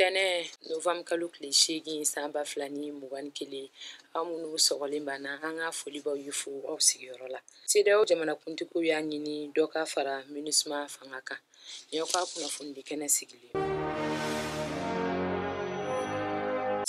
tɛnɛn novanburu kalo tile seegin san ba fila ni mugan ni kelen aw minnu sɔgɔlen b'an na an ka foli b'aw ye fo aw sigiyɔrɔ la sedeyawo jamanakuntigiw y'a ɲini dɔ ka fara minusma fanga kan nin y'aw ka kunnafonidi kɛnɛ sigilen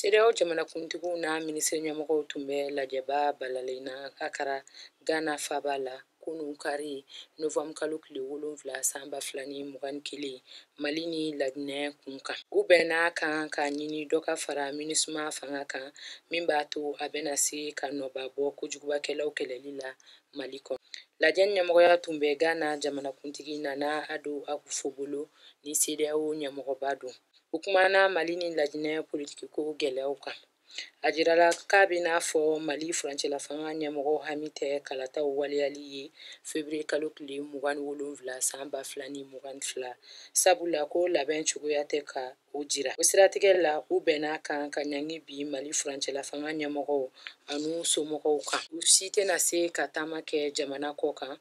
sedeyawo jamanakuntigiw n'a minisiri ɲɛmɔgɔw tun bɛ lajɛba balalen na akara gana faba la kunun kari novanburu kalo tile wolonfila san ba fila ni mugan ni kelen mali ni laginɛ kun kan u bɛnn'a kan k'a ɲini dɔ ka fara minusma fanga kan min b'a to a bɛna se ka nɔba bɔ kojugubakɛlaw kɛlɛli la mali kɔnɔ lajɛ ɲɛmɔgɔya tun bɛ ghana jamanakuntigi nana ado akufo bolo ni sedeyawo ɲɛmɔgɔba don u kumana mali ni laginɛ politikiko gɛlɛyaw kan a jirala k'a bɛ n'a fɔ mali furancɛlafanga ɲɛmɔgɔw hami tɛ kalataw waleyali ye feburuye kalo tile mugan ni wolonfila san ba fila ni mugan ni fila sabula ko labɛn cogoya tɛ ka o jira o siratigɛ la u bɛnn'a kan ka ɲangi bin mali furancɛlafanga ɲɛmɔgɔw an'u somɔgɔw kan u si tɛna se ka taama kɛ jamana kɔkan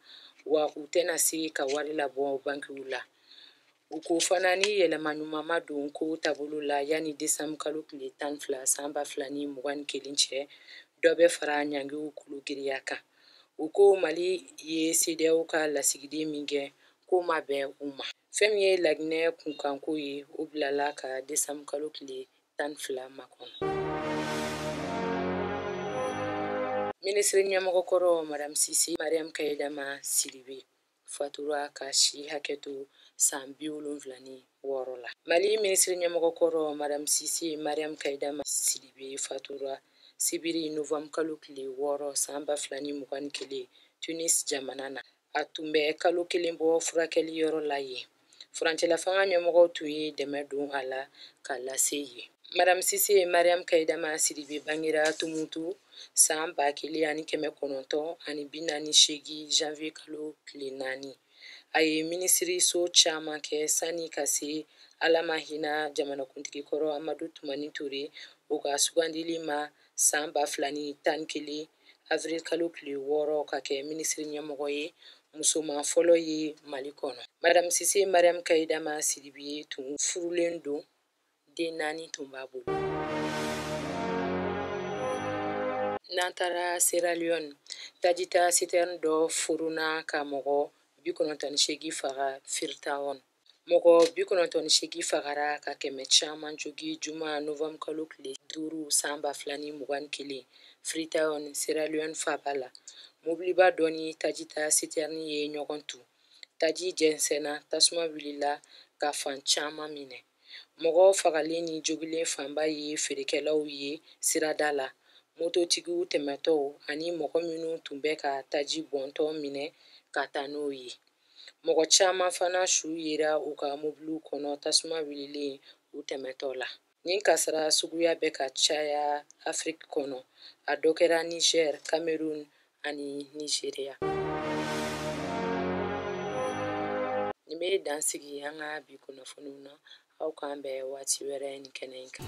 wa u tɛna se ka wari labɔ bankiw la U ko fana ni yɛlɛma ɲuman ma don ko taabolo la yanni desanbu kalo tile tan fila san ba fila ni mugan ni kelen cɛ dɔ bɛ fara ɲangiw kulu giriya kan u ko mali ye sedeyawo ka lasigiden min gɛn k'o ma bɛn u ma fɛn min ye laginɛ kunkanko ye o bilala ka desanbu kalo tile tan fila makɔnɔ minisiri ɲɛmɔgɔ kɔrɔ madame sise mariam kayidama sidibe fatura k'a si hakɛ to san bi wolonfila ni wɔɔrɔ la mali minisiri ɲɛmɔgɔ kɔrɔ madame sise mariam kayidama sidibe fatura sibiri novanbu kalo tile wɔɔrɔ san ba fila ni mugan ni kelen tunis jamana na a tun bɛ kalo kelen bɔ furakɛli yɔrɔ la yen furancɛlafanga ɲɛmɔgɔw tun ye dɛmɛ don a la k'a lase yen madame sise mariam kayidama sidibe bangera tumutu san ba kelen ani kɛmɛ kɔnɔntɔn ani bi naani seegin janvier kalo tile naani a ye minisiriso caman kɛ sanni ka se ala ma hinɛ jamanakuntigi kɔrɔ amadu tumani ture o ka sugandili ma san ba fila ni tan ni kelen avril kalo tile wɔɔrɔ ka kɛ minisiri ɲɛmɔgɔ ye musoman fɔlɔ ye mali kɔnɔ madame sise mariam kayidama sidibe tun furulen don den naani tun b'a bolo n'an taara sierra leone tajita sitɛrni dɔ furuna ka mɔgɔ bi kɔnɔntɔn ni seegin faga freetown mɔgɔ bi kɔnɔntɔn ni seegin fagara ka kɛmɛ caman jogi juma novanburu kalo tile duuru san ba fila ni mugan ni kelen freetown sierra leone faaba la mobiliba dɔ ni tajita siterni ye ɲɔgɔn tu taji jɛnsɛnna tasuma wulila ka fan caman minɛ mɔgɔ fagalen ni jogilen fanba ye feerekɛlaw ye sirada la mototigiw tɛmɛtɔw ani mɔgɔ minnu tun bɛ ka taji bɔntɔ minɛ ka taa n'o ye mɔgɔ caman fana su yera u ka mobiliw kɔnɔ tasuma wililen u tɛmɛtɔ la nin kasara suguya bɛ ka caya afiriki kɔnɔ a dɔ kɛra niger cameroun ani nigeria nin bɛ dan sigi an ka bi kunnafoniw na aw k'an bɛn waati wɛrɛ ni kɛnɛ in kan